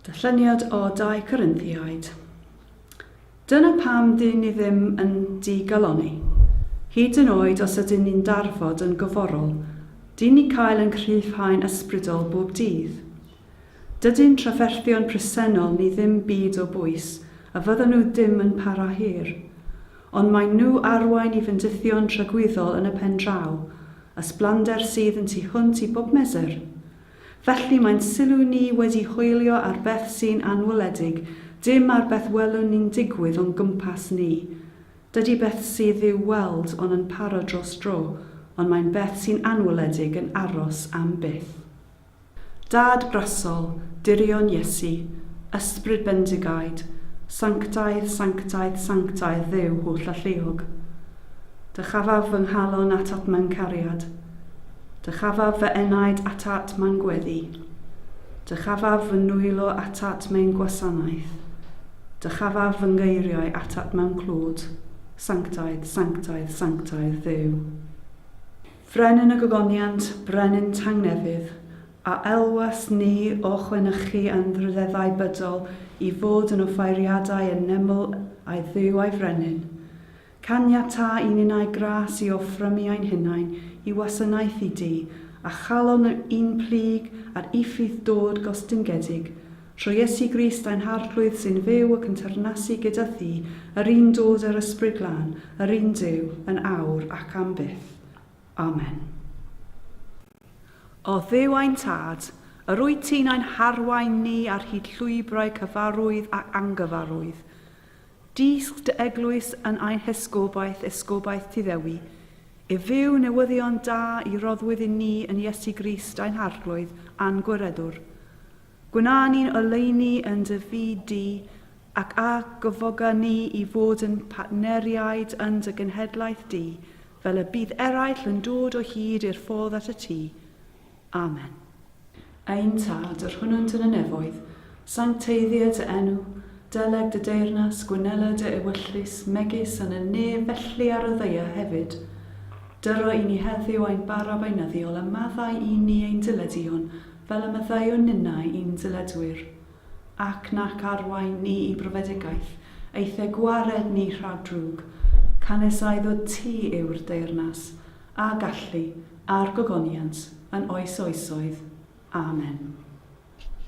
Darlleniad o 2 Corinthiaid. Dyna pam dŷn ni ddim yn digalonni. Hyd yn oed os ydyn ni'n darfod yn goforol, dŷn ni cael yn cryfhau'n ysbrydol bob dydd. Dydyn trafferthion presennol ni ddim byd o bwys a fyddan nhw ddim yn para hir. Ond maen nhw arwain i fendithion tragwyddol yn y pen draw, ysblander sydd yn tu hwnt i bob mesur. Felly mae'n sylw ni wedi hoelio ar beth sy'n anweledig, dim ar beth welwn ni'n digwydd o'n gwmpas ni. Dydy beth sydd i'w weld on yn paro dros dro, ond mae'n beth sy'n anweledig yn aros am byth. Dad brasol, dirion Iesu, Ysbryd bendigaid, Sanctaidd, sanctaidd, sanctaidd Dduw holl alluog. Dychafaf fy nghalon atat mewn cariad, Dychafaf fy enaid atat mewn gweddi, Dychafaf fy nwylo atat mewn gwasanaeth, Dychafaf fy ngeiriau atat mewn clod, Sanctaidd, sanctaidd, sanctaidd Dduw. Frenin y Gogoniant, Brenin Tangnefydd, a elwais ni o chwenychu anrhydeddau bydol i fod yn offeiriadau yn neml a'i Dduw a'i Frenin. Caniata i ninnau gras i offrymu ein hunain i wasanaethu Duw, a chalon yn plyg ar uffydd dod gostyngedig Trwy Iesu Grist ein Harglwydd sy'n fyw ac yn teyrnasu gyda Thi, yr un dod â'r Ysbryd Glân, yr un Duw, yn awr ac am byth. Amen. O Dduw ein Tad, yr wyt Ti'n ein harwain ni ar hyd llwybrau cyfarwydd ac angyfarwydd. Dysg Dy Eglwys yn ein hesgobaeth, esgobaeth Ti Ddewi, i fyw newyddion da i roddwyd i ni yn Iesu Grist ein Harglwydd a'n Gwireddwr. Gwna ni'n oleuni yn dy fyd di, ac a gyfoga ni i fod yn partneriaid yn dy genhedlaeth di, fel y bydd eraill yn dod o hyd i'r ffordd at y tŷ. Amen. Ein Tad, yr hwnnwnt yn y nefoedd, sancteiddia dy enw, deleg dy deyrnas, gwynela dy ewyllys, megis yn y nef felly ar y ddaear hefyd. Dyro i ni heddiw ein bara beinyddiol, a maddau i ni ein dileduon, fel y maddeuwn ninnau i'n dyledwyr, ac nac arwain ni i brofedigaeth, eithr gwared ni rhag drwg, canesaidd o ti yw'r deyrnas, a gallu, a'r gogoniant, yn oes oesoedd. Amen.